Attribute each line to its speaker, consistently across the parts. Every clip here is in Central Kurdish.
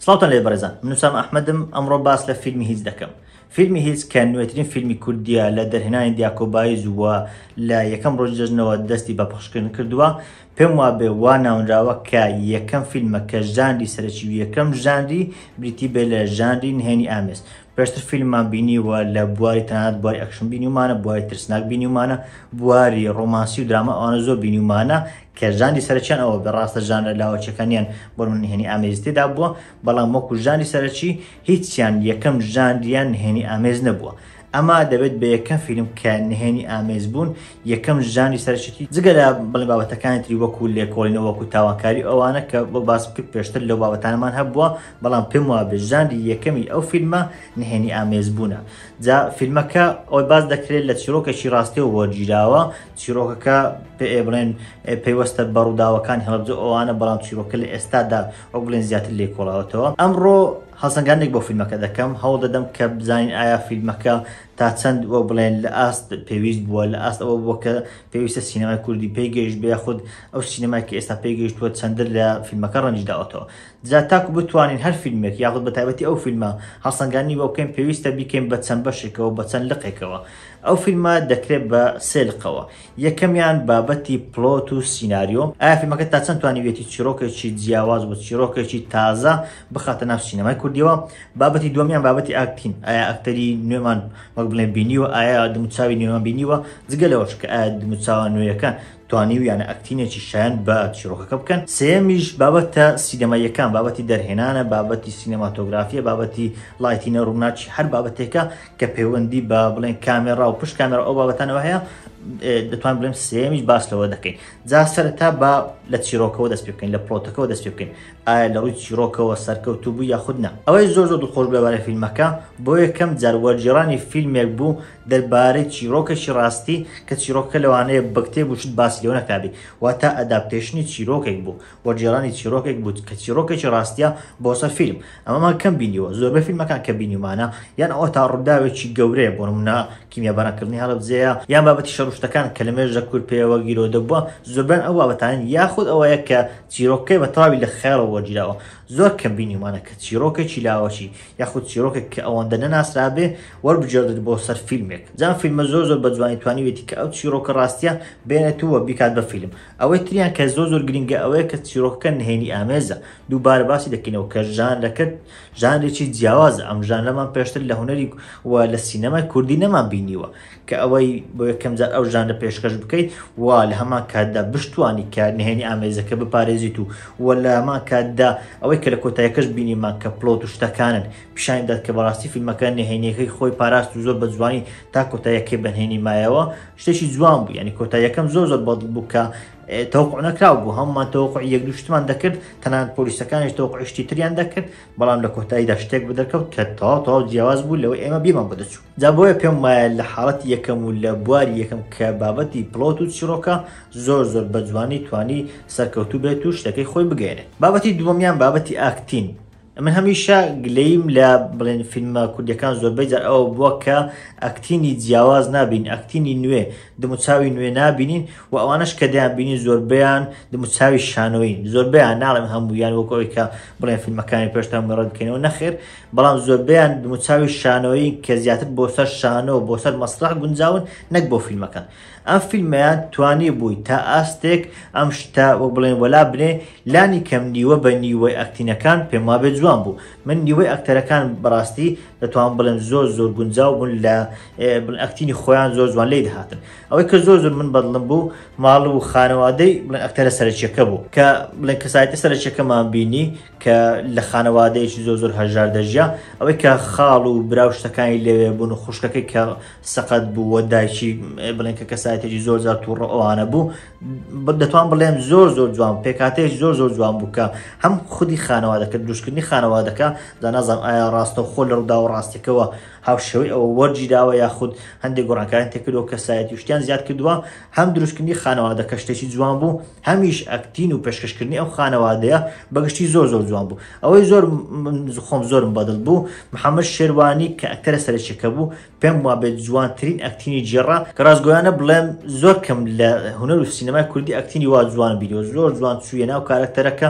Speaker 1: سڵاوتان لێ بەرزان منوسام ئەحمدم ئەمڕۆ باس لە فیلمی هیچ دەکەم فیلمی هیچ کە نوێترین فیلمی کوردیا لە دەرهێنانی دیاکۆبایی زووە لە یەکەم ڕۆژ جەژنەوە دەستی بە پخشکردن کردووە پێم وابێ وا ناونراوە کە یەکەم فیلمە کە ژانری سەرەکی و یەکەم ژانری بریتی بێ لە ژانری نهێنی ئامێز پێشتر فیلممان بینیوە لە بواری تەنات بواری ئەکشن بینیومانە بواری ترسناک بینیومانە بواری ڕۆمانسی و دراما ئەوانە زۆر بینیومانە کە ژانی سەرچیان ئەوە بە ڕاستە ژانە لاوەچەکانیان بۆ من نهێنی ئامێزتێدا بووە بەڵام وەکو ژانی سەرچی هیچیان یەکەم ژاندیان نهێنی ئامێز نەبووە ئەما دەبێت بە یەکەم فیلم کە نهێنی ئامێز بوون یەکەم ژانی سەرچێتی جگە لە بڵێ بابەتەکانی تری وەکو لێکۆڵینەوە وەکو تاواکاری ئەوانە کە بۆ باس کرد پێشتر لەو بابەتانمان هەبووە بەڵام پێم وابێ ژانری یەکەمی ئەو فیلمە نهێنی ئامێز بوونە جا فیلمەکە ئەوەی باز دەکرێت لە چیرۆکێکی ڕاستەوە وەرگیراوە چیرۆکەکە پێ بڵێن پەیوەستە بە ڕووداوەکان هەڵبجە ئەوانە بەڵام چیرۆکە لە ئێستادا ئەو بڵێن زیاتر لێ کۆڵاوەتەوە ئەمڕۆ هەڵسەنگانێک بۆ فیلمەکە دەکەم هەوڵ دەدەم کە بزانین ئایا فیلمەکە تا چەند وە بڵێن لە ئاست پێویست بووە لە ئاست ئەوە بووە کە پێویستە سینەمای کوردی پێگەیشت بێ خود ئەو سینەمای کە ئێستا پێگەیشتووە چەندر لە فیلمەکە ڕەنجداوەتەوە جا تاکو بتوانین هەر فیلمێک یاخود بە تایبەتی ئەو فیلمە هەڵسەنگاندنی بۆ بکەین پێویستە بیکەین بە چەند بەشێکەوە بە چەند لقێکەوە ئەو فیلمە دەکرێت بە سێ لقەوە یەکەمیان بابەتی پلۆت و سیناریۆ ئایا فیلمەکە تا چەند توانیویەتی چیرۆکێکی جیاواز و چیرۆکێکی تازە بخاتە ناو سینەمای کوردیەوە بابەتی دومیان بابەتی ئاکتین ئایا ئەکتەری نوێمان وەک بڵێن بینیوە ئایا دموچاوی نوێمان بینیوە جگە لەوەش کە ئایا دموچاوە نوێیەکان توانیویانە ئەکتینێکی شایەن بە چیرۆکەکە بکەن، سێیەمیش بابەتە سینەماییەکان، بابەتی دەرهێنانە، بابەتی سینەماتۆگرافییە، بابەتی لایتینە، ڕووناکی، هەر بابەتێکە کە پەیوەندی بە بڵێن کامێرا و پشت کامێرا ئەو بابەتانەوە هەیە، دەتوان بڵێم سێیەمیش باس لەوە دەکەین جا سەرەتا بە لە چیرۆکەوە دەست پێ بکەین لە پڵۆتەکەەوە دەست پێ بکەین ئایا لە ڕووی چیرۆکەوە سەرکەوتوو بوو یاخود نا ئەوەی زۆر زۆر دڵخۆش بووە بارەی فیلمەکە بۆ یەکەم جار وەرگێڕانی فیلمێک بوو دەربارەی چیرۆکێکی ڕاستی کە چیرۆکەکە لەوانەیە بە کتێب و شت باسی لێوە نەکرابی واتا ئەداپتەیشنی چیرۆکێک بوو وەرگێڕانی چیرۆکێک بوو کە چیرۆکێکی ڕاستیە بۆ سەر فیلم ئەمەمان کەم بینیوە زۆربەی فیلمەکان کە بینیومانە یان ئەوە تا ڕووداوێکی گەورەیە بۆ نمونە کیمیابارانکردنی هەڵەبجەیە یان بابەتی شەڕ و شتەکان کە لە مێژە کورد پێیەوە گیرۆدە بووە زۆربەیان ئەو بابەتانەن یاخود ئەوەیە کە چیرۆکەکەی بە تەواوی لە خەیاڵەوە وەرگیراوە زۆر کەم بینیومانە کە چیڕۆکێکی لاوەکی یاخود چیڕۆکێک کە ئەوەندە نەناسرابێ وەربگێڕدرێت بۆ سەر فیلمێک جا ئەم فیلمە زۆر زۆر بە جوانی توانیویەتی کە ئەو چیڕۆکە ڕاستیە بێنێت و بیکات بە فیلم ئەوەی تریان کە زۆر زۆر گرینگە ئەوەیە کە چیڕۆکەکە نهێنی ئامێزە دووبارە باسی دەکەینەوە کە ژانرەکە ژانرێکی جیاوازە ئەم ژانرەمان پێشتر لە هونەری و لە سینەمای کوردی نەمان بینیوە کە ئەوەی بۆ یەکەم جار ئەو ژانرە پێشکەش بکەیت و لە هەمان کاتدا بشتوانی کە نهێنی ئامێزەکە بپارێزیت و و لە هەمان کاتدا ئەوەی کە لە کۆتایەکەش بینیمان کە پلۆت و شتەکانن پیشانی دات کە بەڕاستی فیلمەکە نهێنیەکەی خۆی پاراست و زۆر بە جوانی تا کۆتایەکەی بەنهێنی مایەوە شتێکی جوان بوو ینی کۆتایەکەم زۆر زۆر بەڵ بوو کە تەوقع نەکراو بوو هەممان تەوقع یەک دوو شتمان دەکرد تەنان پۆلیسەکانیش تەوقعشتی تریان دەکرد بەڵام لە کۆتاییدا شتێک بدەکەوت کە تەواو تەواو جیاواز بوو لەوە ئێمە بیمان بۆ دەچوو جا بۆیە پێم وایە لە حاڵەتی یەکەم و لە بواری یەکەم کە بابەتی پڵۆت و چیڕۆکە زۆر زۆر بە جوانی توانی سەرکەوتوو بێت و شتەکەی خۆی بگەیەنێت بابەتی دووەمیان بابەتی ئاکتین من هەمیشە گلەیم لە بڵێن فیلمە کوردیەکان زۆربەی جار ئەوە بووە کە ئەکتینی جیاواز نابین ئەکتینی نوێ دموچاوی نوێ نابینین و ئەوانش کە دەیان بینین زۆربیان دموچاوی شانۆین زۆربیان ناڵێم هەموویان وەکەوەی کە بڵێن فیلمەکانی پێشتان مەڕەت بکەینەوە نەخێر بەڵام زۆربەیان دموچاوی شانۆیین کە زیاتر بۆ سەر شانۆ و بۆ سەر مەسرەح گونجاون نەک بۆ فیلمەکە. ئەم فیلمەیان توانیبووی تا ئاستێک ئەم شتە وەک بڵێن وەلا بنێ، لانی کەم نیوە بە نیوەی ئەکتینەکان پێم وابێ جوان بوو. من نیوەی ئەکتەرەکان بەڕاستی دەتوانم بڵێم زۆر زۆر گونجاو بوون لە بڵێن ئەکتینی خۆیان زۆر جوان لێی دەهاتن. ئەوەی کە زۆر زۆر من بەدڵم بوو ماڵ و خانەوادەی بڵێن ئەکتەرە سەرەکییەکە بوو کە بڵێن کەسایەتی سەرەکییەکەمان بینی، کە لە خانەوادەیەکی زۆر زۆر هەژار دەژیا ئەوەی کە خاڵ و براو شتەکانی لەوێ بوون و خوشکەکەی کە سەقەت بوو وە دایکی بڵێن کە کەسایەتێکی زۆر زار تووڕ ئەوانە بوو دەتوان بڵێن زۆر زۆر جوان پێکاتێک زۆر زۆر جوان بووکە هەم خودی خانەوادەکە دروستکردنی خانەوادەکە دانازان ئایا ڕاستە خۆ لە ڕوودا و ڕاستێکەوە هاوشێوەی ئەوە وەرگیراوە یاخود هەندێک گۆڕانکاران تێکردەوە کەسایەتی شتیان زیاد کردووە هەم دروستکردنی خانەوادەکە شتێکی جوان بوو هەمیش ئەکتین و پێشکەشکردنی ئەو خانەوادەیە بەگشتی زۆر زۆر جوان بوو ئەوەی زۆر خۆم زۆرم بەدڵ بوو محەممەد شێوانی کە ئەکتەرە سەرچەکە بوو پێم وا بێت جوانترین ئەکتینی جێڕا کە ڕاستگویانە بڵێم زۆر کەم لە هونەر و سینەمای کوردی ئەکتینی وا جوان بیرەوە زۆر جوان چوویە ناو کارەکتەرەکە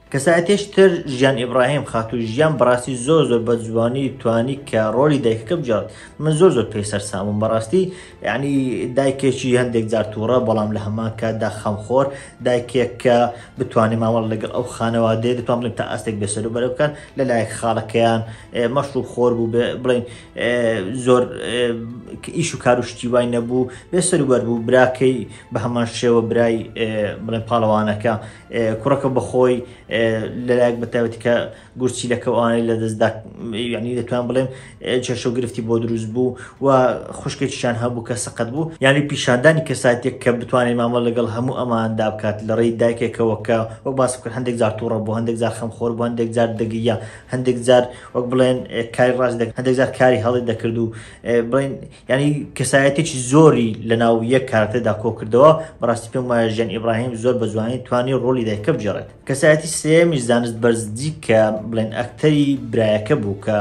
Speaker 1: کەسایەتیش تر ژیان ئیبراهیم خاتو ژیان بەڕاستی زۆر زۆر بە جوانی توانی کە ڕۆلی دایکەکە بجات من زۆر زۆر پێی سەرسامم بەڕاستی یعنی دایکێکی هەندێک جار تووڕە بەڵام لە هەمان کاتدا خەمخۆر دایکێک کە بتوانێت مامەڵ لەگەڵ ئەو خانەوادەیە دەتوان بڵێن تا ئاستێک بێسەر و بەرە بکەن لە لایەک خاڵەکەیان مەشروب خۆر بوو بڵین زۆر ئیش و کار و شتی وای نەبوو بێسەر و بەر بوو براکەی بە هەمان شێوە برای بڵێن پاڵەوانەکە کوڕەکە بەخۆی لەلایەک بەتاوەتی کە گورچیلەکە ئەوانەی لە دەستدا یعنی دەتوان بڵێم چێشە و گرفتی بۆ دروست بوو و خوشکێکیشان هەبوو کە سەقەت بوو یعنی پیشاندانی کەساتێک کە بتوانێت مامە لەگەڵ هەموو ئەماندا بکات لە ڕێی دایکێکەوە کە وەک باس بکرد هەندێک جار تووڕە بوو هەندێک جار خەم خۆر بوو هەندێک جار دەگیە هەندێک جار وەک بڵێن کاری ڕاست هەندێک جار کاری هەڵی دەکرد و بڵین یانی کەسایەتێکی زۆری لە ناو یەک کارەکتەردا کۆکردەوە بەڕاستی پێم وایە ژیان ئیبراهیم زۆر بە جوانی توانی ڕۆلی دایکە بگێڕێت کەسایەتی سێمی زانست بەرزجی کە بڵێن ئەکتەری برایەکە بوو کە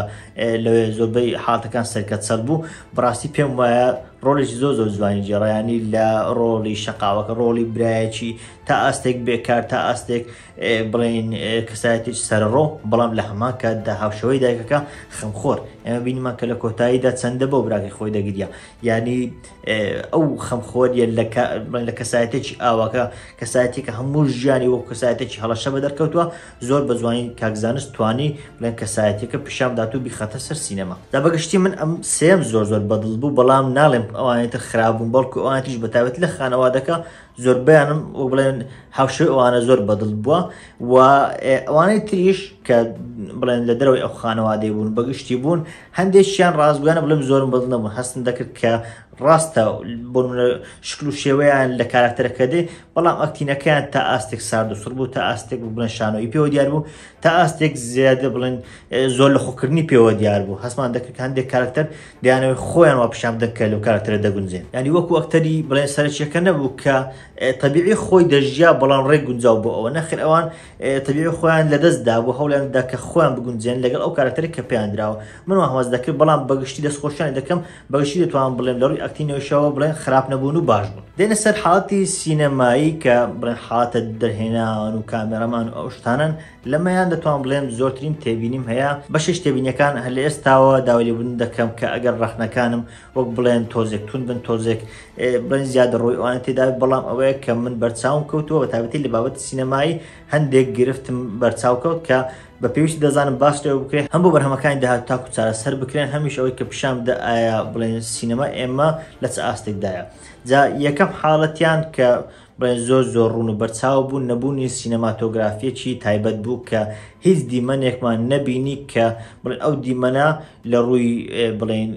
Speaker 1: لەوێ زۆربەی حاتەکان سەرکەت سەر بوو بەڕاستی پێم وایە ڕۆڵێکی زۆر زۆر جوانی جێڕیانی لە ڕۆڵی شقاوەکە ڕۆڵی برایەکی تا ئاستێک بێکار تا ئاستێک بڵێن کەسایەتێک سەرڕۆ بەڵام لە هەمان کاتدا هاوشەوەی دایکەکە خەمخۆر ئێمە بینیمان کە لە کۆتاییدا چەندە بۆ براکەی خۆی دەگریا ینی ئەو خەمخۆریە لە کەسایەتێکی ئاواکە کەسایەتی کە هەموو ژیانی وەک کەسایەتێکی هەڵەشە بە دەرکەوتووە زۆر بە جوانی کاکزانست توانی بڵێن کەسایەتەکە پیشامدات و بیخەتە سەر سینەما دا بەگشتی من ئەم سێم زۆر زۆر بەدڵ بوو بەڵام ناڵێم ئەوانێتە خراپبوون بەڵکو ئەوانتیش بەتابێت لە خانەوادەکە زۆربەیانم وەک بڵێن هاوشێوەی ئەوانە زۆر بەدڵ بووە و ئەوانەی تریش کە بڵێن لە دەرەوەی ئەو خانەوادەی بوون بەگشتی بوون هەندێکیان ڕاستگویانە بڵێم زۆرم بەدڵ نەبوون هەستم دەکرد کە ڕاستە بۆ شکل و شێوەیان لە کاراکتەرەکە دێ بەڵام ئەکتینەکەیان تا ئاستێک سارد و سڕ بوو تا ئاستێک بڵێن شانۆی پێوە دیار بوو تا ئاستێک زیادە بڵێن زۆر لە خۆکردنی پێوە دیار بوو هەستمان دەکرد هەندێک کارکتەر دیانەوەی خۆیان وا پیشان دەکە لەو کارکتەرە دەگونجێن ینی وەکو ئەکتەری بڵێن سەرچیەکە نەبوو کە تەبیعی خۆی دەژیا بەڵام ڕێک گونجاو بۆ ئەوە نەخر ئەوان تەبیعی خۆیان لەدەستدا بۆ هەوڵیان دەکە خۆیان بگونجێن لەگەڵ ئەو کارکتەری کە پێیاندراوە من هەواز دەکرد بەڵام بەگشتی دەستخۆشیان دەکەم بەگشتی دەتوانم بڵێم لە ڕووی ئەکتینگەشەوە بڵێن خراپ نەبوون و باش بوون دێنە سەر حاڵەتی سینەمایی کە بڵێن حاڵەتە دەرهێنان و کامێرەمان و ئەو شتانن لەمەیان دەتوان بڵێم زۆرترین تێبینیم هەیە بەشش تێبینەکان هەر لە ئێستاوە داوای لێبوون دەکەم کە ئەگەر ڕەخنەکانم وەک بڵێن تۆزێک تون بن تۆزێک بن زیاد ڕۆی ئەوانە تێدا بەڵام ئەوەیە کە من بەرچاوم کەوتووە بە تابەتی لە بابەت سینەمایی هەندێک گرفتم بەرچاو کەوت کە بە پێویستی دەزانم باس لێوە بکرێت هەم بۆ بەرهەمەکانی داهات تاکو چارەسەر بکرێن هەمیش ئەوەی کە پیشان بدە ئایا بڵێن سینەما ئێمە لە چ ئاستێکدایە جا یەکەم حاڵەتیان کە بڵێن زۆر زۆر ڕوون و بەرچاو بوو نەبوونی سینەماتۆگرافیەکی تایبەت بوو کە هیچ دیمەنێکمان نەبینی کە بڵێن ئەو دیمەنا لە ڕووی بڵێن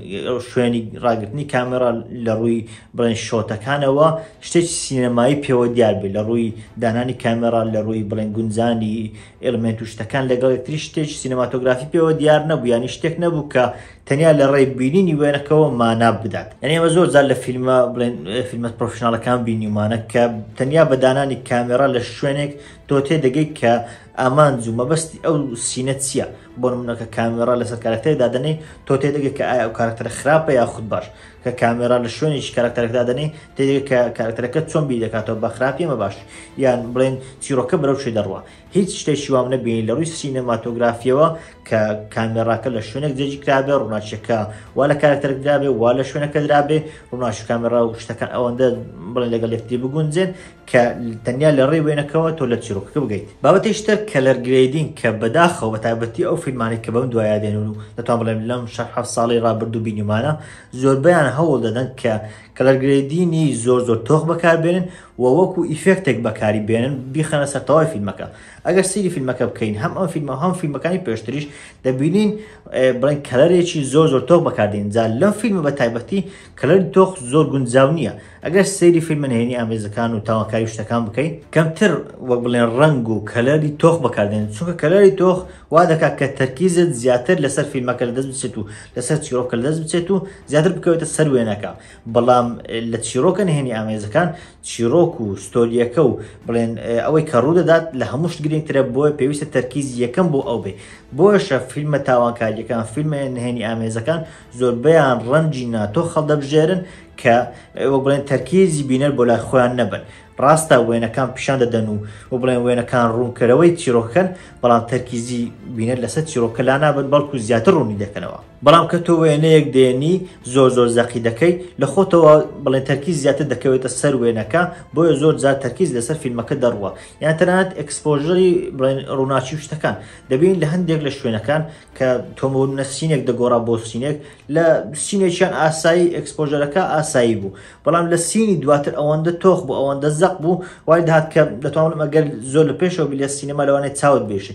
Speaker 1: شوێنی ڕاگرتنی کامێرا لە ڕووی بڵێن شۆتەکانەوە شتێک سینەمایی پێوە دیار بێت لە ڕووی دانانی کامێرا لە ڕووی بڵێن گونجانی ئێڵمێنت و شتەکان لەگەڵ یەکتری شتێکی سینەماتۆگرافی پێوە دیار نەبوو، یانی شتێک نەبوو کە تەنیا لە ڕێی بینینی وێنەکەوە مانا بدات. یانی ئێمە زۆر جار لە فیلمە بڵێن فیلمە پرۆفیشناڵەکان بینیومانە کە تەنیا بە دانانی کامێرا لە شوێنێک تۆ تێدەگەیت کە ئامانج و مەبەستی ئەو سینە چییە بۆ نمونەکە کامێرا لەسەر کارەکتەری دادەنەی تۆ تێدەگەیت کە ئایا ئەو کارەکتەرە خراپە یاخود باش کە کامێرا لە شوێنێکی کارەکتەرەکە دادەنێی تێدەگەی کە کارەکتەرەکە چۆن بیر دەکاتەوە بە خراپ یان بە باش یان بڵێن چیرۆکە بەرەو کوێ دەڕوا هیچ شتێکی وام نەبینی لە ڕووی سینەماتۆگرافیەوە کە کامێراکە لە شوێنێک جێگی کرابێ ڕووناچیەکە وا لە کارەکتەرەک درابێ وا لە شوێنەکە درابێ ڕووناچ کامێرا و شتەکان ئەوەندە بڵێن لەگەڵ یەکتری بگونجێن کە تەنیا لە ڕێی وێنەکەوە تۆ لە چیرۆکەکە بگەیت بابەتیش تر کەلەر گرێدین کە بەداخەوە بە تابەتی ئەو فیلمانێک کە بەم دوایە دێنون و دەتوان بڵێم لەم شەح حەف ساڵی ڕابردوو بینیمانە زۆربیان هەوڵ دەدەن کە کەلەرگرێدینی زۆر زۆر تۆخ بەکاربێنن و وەکو ئیفێکتێک بەکاری بێنن بیخەنە سەرتەوای فیلمەکە ئەگەر سری فیلمەکە بکەین هەم ئەم فیلمە هەم فیلمەکانی پێشتریش دەبینین بڵێن کەلەرێکی زۆر زۆر تۆخ بەکاردێن جا لەم فیلمە بە تایبەتی کەلەری تۆخ زۆر گونجاو نییە ئەگەر سەیری فیلمە نهێنی ئامێزەکان و تاوانکاری شتەکان بکەیت کەمتر وەک بڵێن ڕنگ و کەلەری تۆخ بەکاردێن چونکە کەلەری تۆخ وا دەکات کە تەرکیزت زیاتر لەسەر فیلمەکە لە دەست بچێت و لەسەر چیرۆکە لە دەست بچێت و زیاتر بکەوێتە سەر وێنەکە بەڵام لە چیرۆکە نهێنی ئامێزەکان چیرۆک و ستۆریەکە و بڵێن ئەوەی کە ڕوو دەدات لە هەمووشت گرنگترە بۆیە پێویستە تەرکیز یەکەم بۆ ئەو بێ بۆشە فیلمە تاوانکاریەکان فیلمە نهێنی ئامێزەکان زۆربەیان ڕەنجی ناتۆ خەڵدەبژێرن کە وە بڵێن تەرکیزی بینەر بۆ لای خۆیان نەبن ڕاستە وێنەکان پیشان دەدەن و و بڵێن وێنەکان ڕوونکەرەوەی چیرۆکەن بەڵام تەرکیزی بینەر لەسەر چیرۆکە لا نابن بەڵکو زیاتر ڕوونی دەکەنەوە بەڵام کە تۆ وێنەیەک دێنی زۆر زۆر زەقی دەکەی لە خۆتەوە بڵێن تەرکیز زیاتر دەکەوێتە سەر وێنەکە بۆیە زۆر جار تەرکیز لەسەر فیلمەکە دەڕوە یان تەنات ئەکسپۆژری بڵێن ڕووناچی شتەکان دەبین لە هەندێک لە شوێنەکان کە تۆمەونە سینێک دەگۆڕا بۆ سینێک لە سینێکیان ئاسایی ئەکسپۆژەرەکە ئاسایی بوو بەڵام لە سینی دواتر ئەوەندە تۆخ بوو ئەوەندە زەق بوو وای داات کە دەتوانم ئەگەر زۆر لە پێشەوە بلێ سینەما لەوانێ چاوت بێش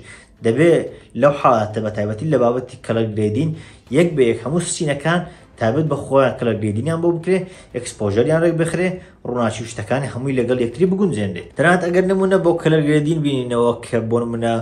Speaker 1: دەبێ لەو حاڵاتە بە تایبەتی لە بابەتی کەڵک گرێدین یەک بە یەک هەموو سینەکان تابێت بە خۆیان کەلە گرێدینیان بۆ بکرێ ئەکسپۆژەریان ڕێک بخرێ ڕووناکی و شتەکانی هەمووی لەگەڵ یەکتری بگونجێنرێت تەنانەت ئەگەر نموونە بۆ کەلەر گرێدین بینینەوە کە بۆ نموونە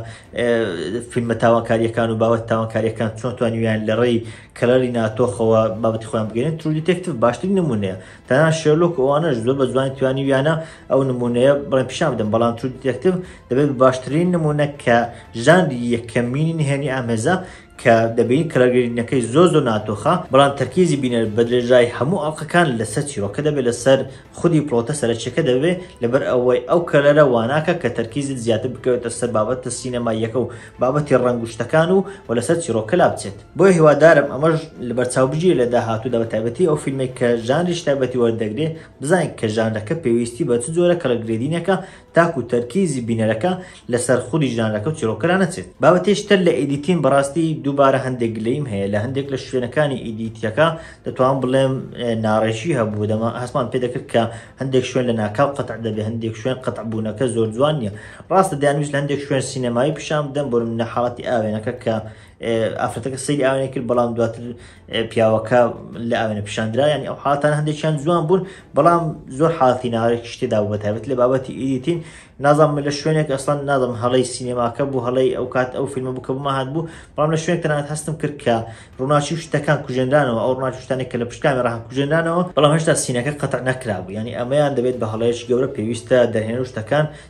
Speaker 1: فیلمە تاوانکاریەکان و باوەت تاوانکاریەکان چۆن توانیویان لە ڕێی کەلەری ناتۆخەوە بابەتی خۆیان بگەێن ترو دیتێکتف باشتر نمونەیە تەنان شێلۆک ئەوانەش زۆر بە جوانی توانیویانە ئەو نمونەیە بڵێن پیشان بدەن بەڵام ترو دیتێکتف دەبێت باشترین نمونە کە ژانری یەکەمینی نهێنی ئامێزە کە دەبینین کەلەرگەریدنەکەی زۆر زۆر ناتۆخە، بەڵام تەرکیزی بینەر بە درێژای هەموو ئەڵقەکان لەسەر چیرۆکە دەبێت لەسەر خودی پڵۆتە سەرەکیەکە دەبێت لەبەر ئەوەی ئەو کەلەرە واناکە کە تەرکیزت زیاتر بکەوێتە سەر بابەتە سینەماییەکە و بابەتی ڕەنگ و شتەکان و و لەسەر چیرۆکە لابچێت بۆیە هیوادارم ئەمەش لەبەرچاو بگیرێت لە داهاتوودا بە تایبەتی ئەو فیلمەی کە ژانریش تایبەتی وەردەگرێت بزانین کە ژانرەکە پێویستی بە چ جۆرە کەلەرگرێدینێکە تاکو تەرکیزی بینەرەکە لەسەر خودی ژانرەکە و چیڕۆکەرا نەچێت. بابەتێکی تر لە ئیدیتین بەڕاستی دووبارە هەندێک گلەییم هەیە لە هەندێک لە شوێنەکانی ئیدیتیەکە دەتوانم بڵێم ناڕێکی هەبوو دەمە هەستمان پێ دەکرد کە هەندێک شوێن لە ناکاو قەتع دەبێ هەندێک شوێن قەتع بوونەکە زۆر جوان نیە ڕاستە دەیانویست لە هەندێک شوێن سینەمایی پیشان بدەن بۆ نمونە حاڵەتی ئاوێنەکە کە ئافرەتەکە سەیری ئاوێنە کرد بەڵام دواتر پیاوەکە لە ئاوێنە پیشاندرا ینی ئەو حاتان هەندێکیان جوان بوون بەڵام زۆر حاڵی ناوێک شتێدا بە تابێت لە بابەتی ئیدیتین نازانم لە شوێنێک ئەسڵان نازم هەڵی سینەماکە بوو هەڵی ئەو کات ئەو فیلمە بوو کە بمە هاات بوو بەڵام لە شوێن تەنات هەستم کرد کە ڕووناچی شتەکان کوژێنرانەوە ئەو ڕناچ شتانێک کە لە پشتکانی ڕاهان کوژێنرانەوە بەڵام هێشتا سینەکە قەتە نەکرابوو ینی ئەمەیان دەبێت بە هەڵەیەش گەورە پێویستە دەهێن شتەکان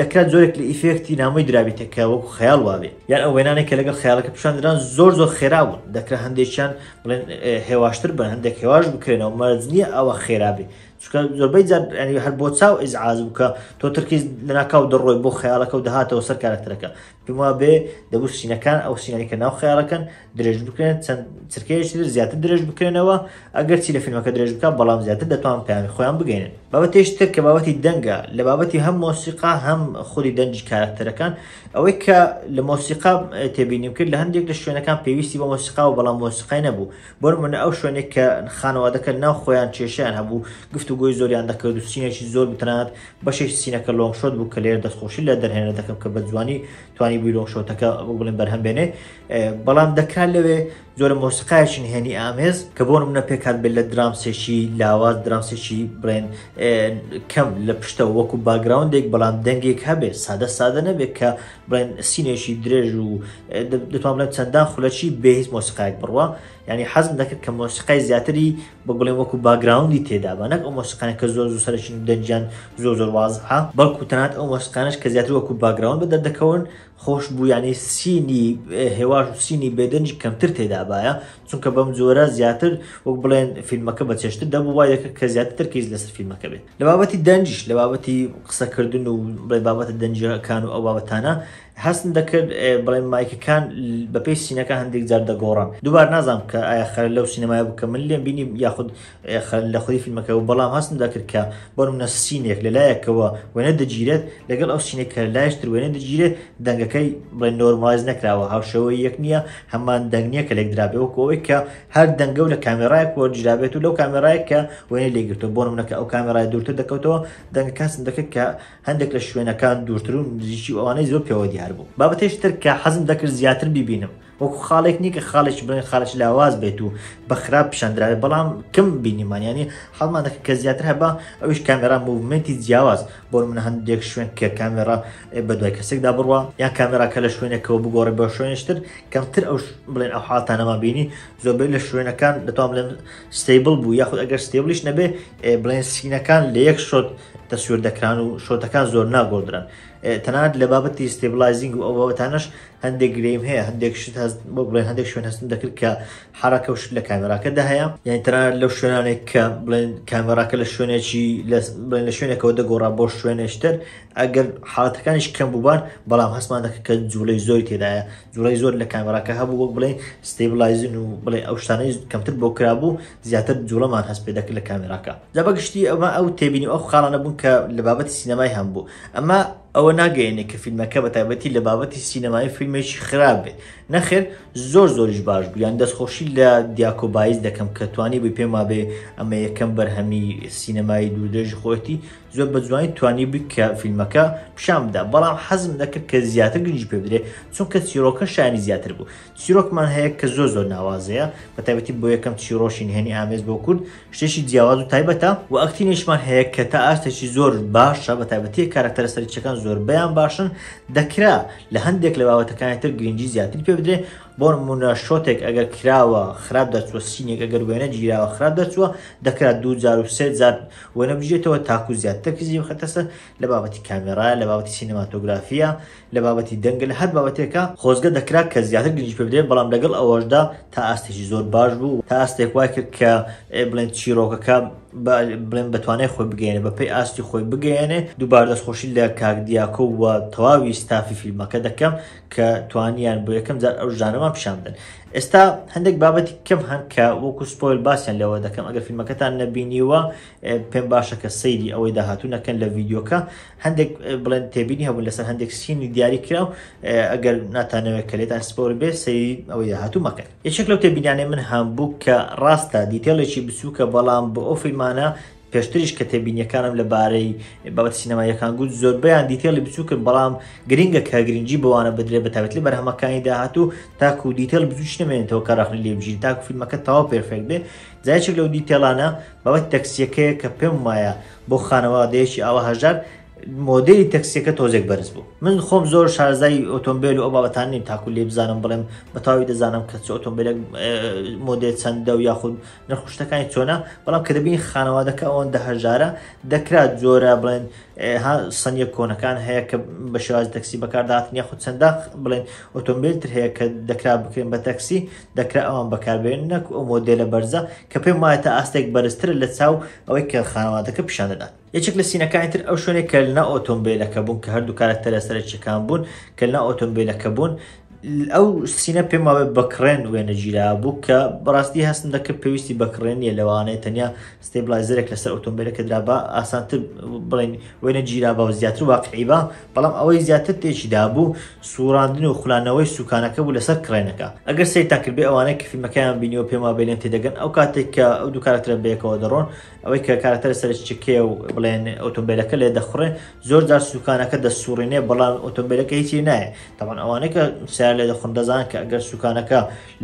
Speaker 1: دەکرا جۆرێک لە ئیفێکتی نامۆی درابیتە کە وەکو خەیاڵ وابێ یان ئەو وێنانێک کە لەگەڵ خەیاڵەکە پیشاندران زۆر زۆر خێرا بوون دەکرا هەندێکیان بڵێن هێواشتر بن هەندێک هێواش بکرێنەوە مەرج نییە ئەوە خێرابێ چکە زۆربەی جار هەر بۆ چاو ئیزعاز بکە تۆ ترکیز لەناکاو دەڕۆی بۆ خەیاڵەکە و دەهاتەوە سەر کارکتەرەکە پێم وابێ دەبوو سینەکان ئەو سینانی کە ناو خیاڵەکەن درێژ بکرێن چەند چرکەیەکی تر زیاتر درێژ بکرێنەوە ئەگەر چی لە فیلمەکە درێژ بکە بەڵام زیاتر دەتوان پەیامی خۆیان بگەێنن بابەتێش تر کە بابەتی دەنگە لە بابەتی هەم مۆسیقا هەم خودی دەنجی کارکتەرەکان ئەوەی کە لە مۆسیقا تێبینیم کرد لە هەندێک لە شوێنەکان پێویستی بە مۆسیقا و بەڵام مۆسیقای نەبوو بۆ من ئەو شوێنێک کە خانەوادەکە ناو خۆیان کێشیان هەبوو گفت و گۆی زۆریان دەکرد و سینێکی زۆر بتنات بەشێکی سینەکە لۆنگ شۆت بوو کە لێرە دەستخۆشی لە دەرهێنەر دەکەم کە بەجوانی توانی بووی لۆنگ شۆتەکە وەک بڵێن بەرهەم بێنێ بەڵام دەکرا لەوێ زۆرە مۆسیقایەکی نهێنی ئامێز کە بۆ منە پێکات بێت لە درامسێکی لاواز درامسێکی بڵێن کەم لە پشتە وەکو باگراوندێک بەڵام دەنگێک هەبێت سادە سادە نەبێت کە بڵێن سینێکی درێژ و دەتوان بڵێن چەندان خولەکی بێهیز مۆسیقایەک بڕوە یانی حەزم دەکرد کە مۆسیقای زیاتری بە بڵێ وەکو باگراوندی تێدابا نەک ئەو مۆسیقانە کە زۆر زوو سەرەکین و دەنگیان زۆر زۆر وازحە بەڵکو تەنات ئەو مۆسیقانش کە زیاتر وەکو باگراوند بە دەردەکەون خۆش بوو یانی سینی هێواش و سینی بێدەنگی کەمتر تێدابایە چونکە بەم جۆرە زیاتر وەک بڵێن فیلمەکە بە چێشتر دەبوو وای دەکرد کە زیاتر ترکیز لەسەر فیلمەکە بێت لە بابەتی دەنگیش لە بابەتی قسەکردن و بڵێ بابەتە دەنگیەکان و ئەو بابەتانە هەستم دەکرد بڵێن مایکەکان بەپێی سینەکە هەندێک جار دەگۆڕن دووبار نازانم کە ئایا خەر لەو سینەمای بوو کە من لێم بینی یاخود لە خۆی فیلمەکە و بەڵام هەستم دەکرد کە بەرم نە سینێک لە لایەکەوە وێنە دەگیرێت لەگەڵ ئەو سینێک کە لایشتر وێنە دەگیرێت دەنگەکەی بڵێن نۆرمایز نەکراوە هاوشەوە یەک نییە هەمان دەنگە کە لێک درابێ وەکەوەی کە هەر دەنگە و لە کامێرایەک وەرجرابێت و لەو کامێرایە کە وێنە لێگرتو بۆ منەکە ئەو کامێرای دوورتر دەکەوتەوە دەنگەکەسم دەکرد کە هەندێک لە شوێنەکان دوورتر و نزیکی و ئەوانەی زۆر پێوە دیار بوو. بابەتێکی تر کە حەزم دەکرد زیاتر بیبینم، وەکو خاڵێک نییە کە خاڵێکی بڵێن خاڵێکی لاواز بێت و بە خراپ پیشان درابێت، بەڵام کم بینیمان، یانی حەزمان دەکرد کە زیاتر هەبا، ئەویش کامێرا موڤمێنتی جیاواز، بۆ نموونە هەندێک شوێن کە کامێرا بە دوای کەسێکدا بڕوا، یان کامێراکە لە شوێنێکەوە بگۆڕێت بۆ شوێنێکی تر، کەمتر ئەو بڵێن ئەو حاڵەتانەمان بینی، زۆربەی لە شوێنەکان دەتوانم بڵێم ستەیبڵ بوو، یاخود ئەگەر ستەیبڵیش نەبێت بڵێن سینەکان لە یەک شۆت، تەسوێر دەکران و شۆتەکان زۆر ناگۆدرن تەنات لە بابەتی ستێبلایزینگ و ئەوەتانش هەندێک گریم هەیە هەندێک شت هەست بۆ بڵێن هەندێک شوێن هەستم دەکرد کە حراکە و شت لە کامێراکەدا هەیە یان تەنات لەو شوێنانێک کە بڵێن کامێراکە لە شوێنێکی بڵێن لە شوێنێکەوە دەگۆڕا بۆ شوێنێشتر ئەگەر حاڵەتەکانیش کەم بووبار بەڵام هەستمان دەکە کە جوڵەی زۆری تێدایە جوڵەی زۆر لە کامێراکە هەبوو وەک بڵێ ستێبلایزن و بڵێ ئەو شتانەی کەمتر بۆ کرابوو زیاتر جوڵەمان هەست پێدەکرد لە کامێراکە جا بەگشتی ئەمە ئەو تێبینی ئەو خاڵانە بوون کە لە بابەتی سینەمای هەم بوو ئەمە ئەوە ناگەیەنێ کە فیلمەکە بە تایبەتی لە بابەتی سینەمای فیلمێکی خراپ بێت نەخێر زۆر زۆریش باش بوو یان دەستخۆشی لە دیاکۆ بایز دەکەم کە توانی بووی پێما بێ ئەمە یەکەم بەرهەمی سینەمایی دوودێژی خۆەتی زۆر بە جوانی توانی بوو کە فیلمەکە پیشان بدا بەڵام حەزم دەکرد کە زیاتر گرنگی پێ بدرێت چونکە چیرۆکە شانی زیاتر بوو چیرۆکمان هەیە کە زۆر زۆر ناوازەیە بە تایبەتی بۆ یەکەم چیرۆشی نهێنی ئامێز بۆ کورد شتێکی جیاواز و تایبەتە و ئەکتینێشمان هەیە کە تا ئاستێکی زۆر باشە بە تایبەتی کارکتەرە سەرچەکان زۆربیان باشن دەکرا لە هەندێک لە باوەتەکانی تر گرنگی زیاتر پێ بدرێ بۆ نمونە شۆتێک ئەگەر کراوە خراپ دەرچوە سینێک ئەگەر وێنە گیراوە خراپ دەرچوە دەکرات دوو جار و سێ جار وەنە بژێتەوە تاکو زیاتر کزی بخەتەسە لە بابەتی کامێرا لە بابەتی سینەماتۆگرافیە لە بابەتی دەنگە لە هەر بابەتێکا خۆزگە دەکرا کە زیاتر گرنگی پێ بدرێ بەڵام لەگەڵ ئەوەشدا تا ئاستێکی زۆر باش بوو تا ئاستێک وای کرد کە بڵێن چیرۆکەکە بڵێن بەتوانای خۆی بگەێنێ بە پێی ئاستی خۆی بگەێنێ دووبار دەستخۆشی لە کاکدیاکۆ و تەواوی ستافی فیلمەکە دەکەم کە توانیان بۆ یەکەم جار ئەو ژانەمان پیشاندن ئێستا هەندێک بابەتی کەم هەن کە وەکو سپۆل باسیان لەوە دەکەم ئەگەر فیلمەکەتان نەبینیوە پێم باشە کە سەیری ئەوەی داهاتوو نەکەن لە ڤیددیوکە هەندێک بڵێن تێبینی هەبوون لەسەر هەندێک سینی دیاری کراو ئەگەر ناتانەوەێت کە لێتان سپۆر بێ سەری ئەوەی داهاتوو مەکەن یەکێک لەو تێبینیانەی من هەم بوو کە ڕاستە دیتێڵێکی بچووکە بەڵام بۆ ئەو فیلمانە پێشتریش کە تێبینیەکانم لەبارەی بابەت سینەمایەکان گوت زۆربیان دیتێڵی بچووکن بەڵام گرنگە کە گرنگجی بەوانە بدرێ بە تاوێت لە بەرهەمەکانی داهاتوو تاکو دیتێل بچوش نمێنێتەوە کە ڕخنی لێبژین تاکو فیلمەکە تاوا پێرفێک بێ جایچێک لەو دیتێلانە بەوەت تەکسیەکەیە کە پێم وایە بۆ خانەوادەیەکی ئاوا هەژار مۆدێلی تەکسیەکە تۆزێک بەرز بوو من خۆم زۆر شارزای ئۆتۆمبیل و ئەو بابەتان نیم تاکو لێ بزانم بڵێم بەتاوی دەزانم کە چ ئۆتۆمبیلێک مۆدێل چەندە و یاخود نرخشتەکانی چۆنا بەڵام کە دەبین خانەوادەکە ئەوەن دە هەژارە دەکرات جۆرە بڵێن ها سنیە کۆنەکان هەیە کە بە شێواز تەکسی بەکارداتنی یاخود چەندە بڵێن ئۆتۆمبیل تر هەیە کە دەکرا بکرێن بە تەکسی دەکرا ئەوان بەکاربهێنن نەکو ئەو مۆدێلە بەرزە کە پێم وایە تا ئاستێک بەرزترە لە چاو ئەوەی کە خانەوادەکە پیشان دەدات. یەکێک لە سینەکانی تر ئەو شوێنەی کە لنا ئۆتۆمبێلەکە بوون کە هەردوو کارەکتەرە سەرەکیەکان بوون کە لنا ئۆتۆمبێلەکە بوون ئەو سینە پێم وابێ بەکڕێن وێنەگیرا بوو کە بەڕاستی هەستم دەکرد پێویستی بەکڕێن نیە لەوانەیە تەنیا ستێبلایزەرێک لەسەر ئۆتۆمبێلەکە درابا ئاسانتر بڵێن وێنە گیرابا و زیاتر واقعی با بەڵام ئەوەی زیاتر تێکی دابوو سوڕاندن و خولانەوەی سوکانەکە بوو لەسەر کڕێنەکە ئەگەر سەیرتان کردبێ ئەوانەی کە فیلمەکەیان بینیەوە پێم وابێ لێم تێدەگەن ئەو کاتێک کە ئەو دوو کارەکتەرە بەیەکەوە دەڕۆن ئەوەی کە کارەکتەرە سەرچکێ و بڵێن ئۆتۆمبیلەکە لێ دەخڕێ زۆر جار سوکانەکە دەسوڕینێ بەڵام ئۆتۆمبیلەکە هیچی نایە تاوان ئەوانەی کە سیار لێ دەخڕن دەزان کە ئەگەر سوکانەکە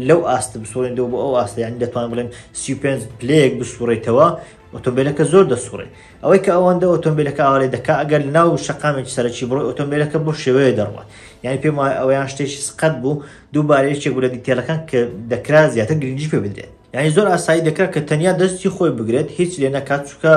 Speaker 1: لەو ئاستە بسوڕێنەوە بۆ ئەو ئاستە یانی دەتوان بڵێن سی و پێنج پلەیەک بسوڕێتەوە ئۆتۆمبیلەکە زۆر دەسوڕێ ئەوەی کە ئەوەندە ئۆتۆمبیلەکە ئاوارێ دەکا ئەگەر ناو شقامێکی سەرەکی بڕۆ ئۆتۆمبیلەکە بۆ شێوەیە دەڕوات یعنی پێم وایە ئەویان شتێکی سقەت بوو دووبارەیەکێک بوو لە دیتێلەکان کە دەکرا زیاتر گرنگی پێ بدرێت یعنی زۆر ئاسایی دەکرا کە تەنیا دەستی خۆی بگرێت هیچ لێ نەکات چکە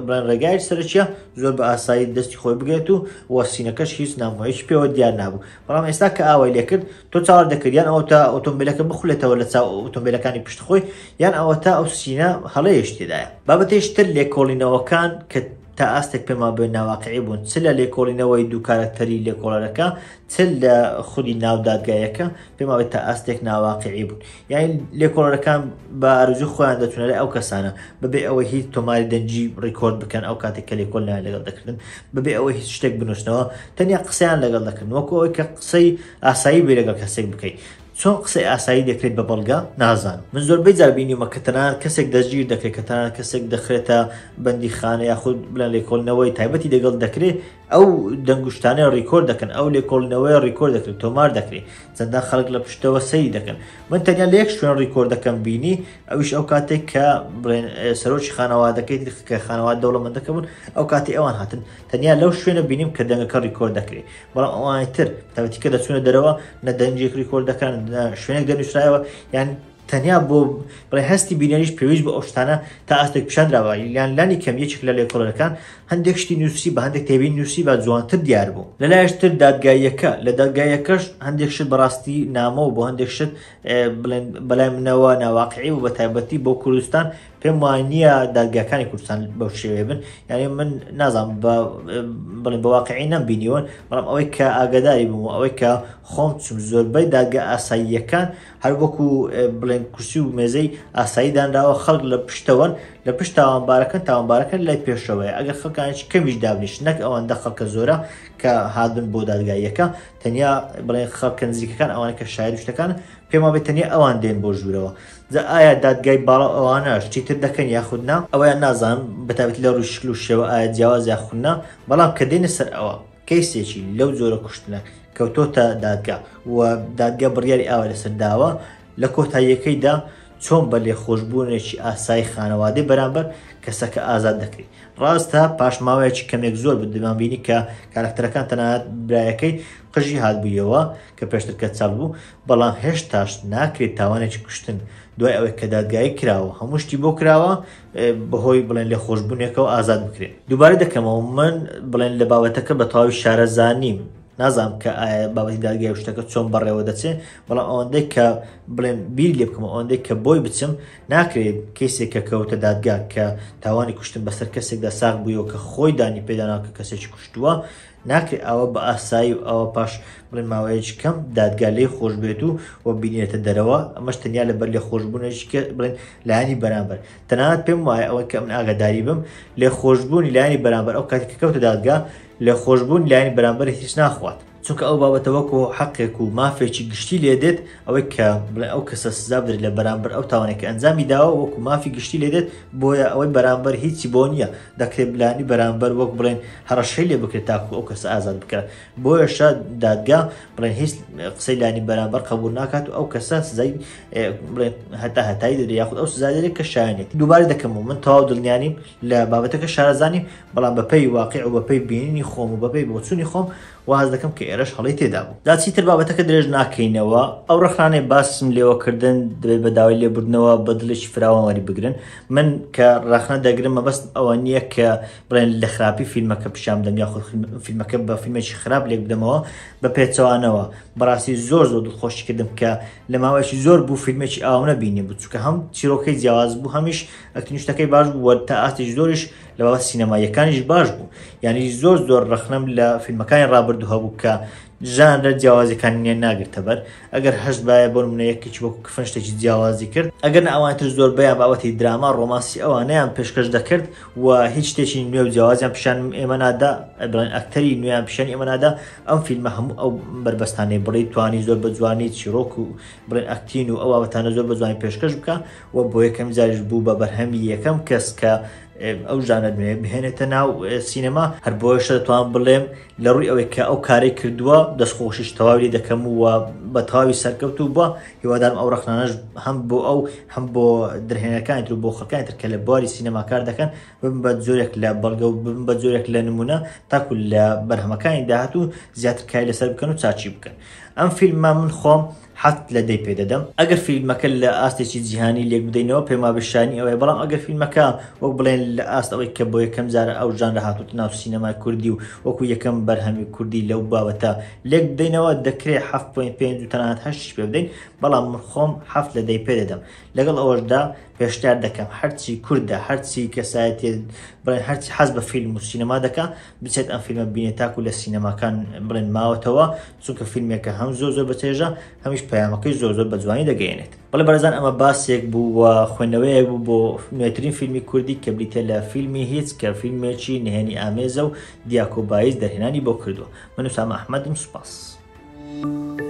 Speaker 1: بڵێن ڕێگای سەرچە زۆر بە ئاسایی دەستی خۆی بگرێت و وەسینەکەش هیچ نامۆیش پێوە دیار نابوو بەڵام ئێستا کە ئاوای لێکرد تۆ چاوەر دەکرد یان ئەوە تا ئۆتۆمبیلەکە بخولێتەوە لە چاو ئۆتۆمبیلەکانی پشت خۆی یان ئەوە تا ئەو سینە هەڵەیەش تێدایە بابەتیش تر لێکۆڵینەوەکان کە تا ئاستێک پێما بێ ناواقعی بوون چ لە لێکۆڵینەوەی دوو کارکتەری لێکۆڵەرەکە چ لە خودی ناودادگایەکە پێماوەی تا ئاستێک ناواقعی بوون یاین لێکۆڵەرەکان بە ئارزوی خۆیان دەچونە لە ئەو کەسانە بەبێ ئەوەی هیچ تۆماری دەنجی ڕیکۆرد بکەن ئەو کاتێک کە لێکۆل نایان لەگەڵ دەکردن بەبێ ئەوەی هیچ شتێک بنووسنەوە تەنیا قسەیان لەگەڵ دەکردن وەکو ئەوەی کە قسەی ئاسایی بێ لەگەڵ کەسێک بکەیت چۆن قسەی ئاسایی دەکرێت بە بەڵگە نازان من زۆربەی جاربینیمە کە تەنان کەسێک دەستگیر دەکرێت کە تەنان کەسێک دەخرێتە بەندی خانە یاخود بلەن لێکۆڵنەوەی تایبەتی دەگەڵ دەکرێت ئەو دەنگوشتانەی ڕیکۆرد دەکەن ئەو لێکۆڵینەوەیە ڕیکۆرد دەکرێت تۆمار دەکرێت چەندان خەڵک لە پشتەوە سەری دەکەن من تەنیا لە یەک شوێن ڕیکۆردەکەم بینی ئەوش ئەو کاتێک کە سەرۆکی خانەوادەکەی کە خانەوە دەوڵەمەندەکە بوون ئەو کاتی ئەوان هاتن تەنیا لەو شوێنە بینیم کە دەنگەکە ڕیکۆرد دەکرێت بەڵام ئەوانی تر تاوەتیکە دەچونە دەرەوە نە دەنجێک ڕیکۆرد دەکەن شوێنێک دەنووسرایەوە یان تەنیا بۆ بڵێ هەستی بینەریش پێویست بە ئەو شتانە تا ئاستێک پیشان درابا یان لانی کەم یەکێک لە لێکۆڵەرەکان هەندێک شتی نووسی بە هەندێک تێبین نووسی بە جوانتر دیار بوو لە لایشتر دادگاییەکە لە دادگایەکەش هەندێک شت بەڕاستی نامە و بۆ هەندێک شت بڵێن بەلای منەوە ناواقعی و بە تایبەتی بۆ کوردستان پێم وانە دادگاکانی کوردستان بەو شێوێ بن یعنی من نازانم بە بڵێن بە واقعی نەم بینیوەن بەڵام ئەوەی کە ئاگداری بوو ئەوەی کە خۆم چم زۆربەی دادگە ئاساییەکان هەر وەکو بڵێن کورسی و مێزەی ئاسایی دانراوە خەڵک لە پشتەوەن لە پشت تاوانبارەکە تاوانبارەکە لای پێشەوەی ئەگەر خەکانش کەمیش دابنیش نەک ئەوەندە خەڵکە زۆرە کە هادن بۆ دادگاییەکە تەنیا بڵێن خەڵکە نزیکەکان ئەوانە کە شاعر شتەکان پێما بێت تەنیا ئەوان دێن بۆ ژوورەوە جا ئایا دادگای باڵا ئەوانە شتیتر دەکەن یاخودنا ئەویان نازان بەتابێت لە ڕووشکل و شێوە ئایا جیاواز یاخودنا بەڵام کە دێنە سەر ئەوە کەیسێکی لەو جۆرە کوشتنە کەوتۆتە دادگا و دادگا بڕیاری ئاوا لەسەر داوە لە کۆتاییەکەیدا چۆن بە لێخۆشبوونێکی ئاسایی خانەوادەی بەرامبەر کەسەکە ئازاد دەکرێت ڕاستە پاشماوەیەکی کەمێک زۆر بدمان بینی کە کارکتەرەکان تەنات برایەکەی قژی هاتبوویەوە کە پێشتر کە چاپ بوو بەڵام هێشتاش ناکرێت تاوانێکی کوشتن دوای ئەوەی کە دادگایی کراوە هەموو شتی بۆ کراوە بەهۆی بڵێن لێخۆشبوونێکەوە ئازاد بکرێن دووبارە دەکەمەوە من بڵێن لە بابەتەکە بە تەواوی شارەزانیم نازام کە ئایا بابەتی دادگای و شتەکە چۆن بەڕێوە دەچێ بەڵام ئەوەندەی کە بڵێن بیر لێ بکەم ئەوەندەی کە بۆی بچم ناکرێت کەسێک کە کەوتە دادگا کە تاوانی کوشتن بەسەر کەسێکدا ساغ بوویەوە کە خۆی دانی پێداناکە کەسێکی کوشتووە ناکرێ ئاوا بە ئاسایی و ئاوا پاش بڵێن ماوەیەکی کەم دادگا لێی خۆش بێت و و بینێتە دەرەوە، ئەمەش تەنیا لەبەر لێخۆشبوونێکی کە بڵێن لایەنی بەرامبەر. تەنانەت پێم وایە ئەوەی کە من ئاگاداری بم، لێخۆشبوونی لایەنی بەرامبەر ئەو کاتی کە کەوتە دادگا، لێخۆشبوونی لایەنی بەرامبەر هیچ ناخوات. چونکە ئەو بابەتە وەکوو حەقێک و مافێکی گشتی لێ دێت، ئەوەی کە بڵێ ئەو کەسە سزا بدرێت لە بەرامبەر ئەو تاوانێک کە ئەنجامی داوە وەکو مافی گشتی لێ دێت بۆیە ئەوەی بەرامبەر هیچی بۆ نییە دەکرێت بلانی بەرامبەر وەک بڵێن هەڕەشەی لێ بکرێت تاکو ئەو کەسە ئازاد بکات بۆیەشە دادگا بڵێن هیچ قسەی لانی بەرامبەر قبول ناکات و ئەو کەسە سزای بڵێن هەتا هەتایی دەدرێت یاخود ئەو سزا دەدرێت کە شایەنێت دووبارە دەکەم و من تەواو دڵنیانیم لە بابەتەکە شارەزانیم بەڵام بەپێی واقع و بەپێی بینینی خۆم و بەپێی بۆچوونی خۆم واز دەکەم کە ئێرەش هەڵەی تێدا بوو. جا چیتر بابەتەکە درێژ ناکەینەوە، ئەو ڕێکخراوانەی باسم لێوە کردن دەبێت بە داوای لێبوردنەوە بە دڵێکی فراوان وەری بگرن. من کە ڕەخنە دەگرم مەبەستم ئەوە نییە کە بڵێن لە خراپی فیلمەکە پیشان بدەم یاخود فیلمەکە بە فیلمێکی خراپ لێک بدەمەوە، بە پێچەوانەوە. بەڕاستی زۆر زۆر دڵخۆشی کردم کە لە ماوەیەکی زۆر بوو فیلمێکی ئاوم نەبینیبوو، چونکە هەم چیرۆکەی جیاواز بوو هەمیش ئەکتینگ و شتەکەی باش بوو و تا ئاستێکی زۆریش لە بابەت سینەماییەکانیش باش بوو یانی زۆر زۆر ڕخنەم لە فیلمەکانی ڕابردوو هەبوو کە ژانرە جیاوازەکانیان ناگرتەبەر ئەگەر هەست باە بۆ منە یەکێکی وەکو کفن شتێکی جیاوازی کرد ئەگەر ئەوانتر زۆر بەیان بابەتی دراما ڕۆماسی ئەوانیان پێشکەش دەکرد و هیچ شتێکی نوێ و جیاوازیان پیشان ئێمە نادا ئەبڵێن ئەکتەری نوێیان پیشان ئێمە نادا ئەم فیلمە هەموو ئەو بەربەستانی بڵی توانی زۆر بە جوانی چیرۆک و بڵێن ئەکتین و ئەوەتانە زۆر بە جوانی پێشکەش بکە و بۆ یەکەم جاریش بوو بە بەرهەمی یەکەم کەس کە ئەو ژانە نوێ بهێنێتە ناو سینەما هەر بۆشە دەتوان بڵێم لە ڕووی ئەوەی کە ئەو کاری کردووە دەستخۆشیش تەواوی دەکەم و بە تەواوی سەرکەوت و بە هیوادارم ئەو ڕخنانەش هەم بۆ ئەو هەم بۆ درهێنەکانی تر بۆ خەکانی تر کە لە بواری سینەماکار دەکەن بم بە جۆرێک لە بەڵگە و بم بە جۆرێک لە نمونە تاکو لە بەرهەمەکانی داهات و زیاتر کای لەسەر بکەن و چاچی بکەن ئەم فیلممان من خۆم حەفت لە دەی پێ دەدەم. ئەگەر فیلمەکە لە ئاستێکی جیهانی لێک بدەینەوە پێم وابێ شایەنی ئەوەیە بەڵام ئەگەر فیلمەکە وەک بڵێن لە ئاست ئەوەی کە بۆ یەکەم جارە ئەو ژانرە هاتووەتە ناو سینەمای کوردی و وەکوو یەکەم بەرهەمی کوردی لەو بابەتە لێک بدەینەوە دەکرێ حەفت پۆینت پێنج و تەنانەت هەشتیش پێ بدەین بەڵام من خۆم حەفت لە دەی پێ دەدەم لەگەڵ ئەوەشدا پێشنیار دەکەم هەرچی کوردە هەرچی کەسایەتییە بڵێن هەرچی حەز بە فیلم و سینەما دەکا بچێت ئەم فیلمە ببینێت تاکو لە سینەماکان بڵێن ماوەتەوە چونکە فیلمێکە هەم زۆر زۆر بەچێژە هەمیش پەیامەکەی زۆر زۆر بە جوانی دەگەێنێت بەڵێ بەرزان ئەمە باسێک بوو و خوێندنەوەیەک بوو بۆ نوێترین فیلمی کوردی کە بریتە لە فیلمی هیچ کە فیلمێکی نهێنی ئامێزە و دیاکۆ بایز دەرهێنانی بۆ کردووە من و سامە ئەحمەدم سوپاس. Thank you.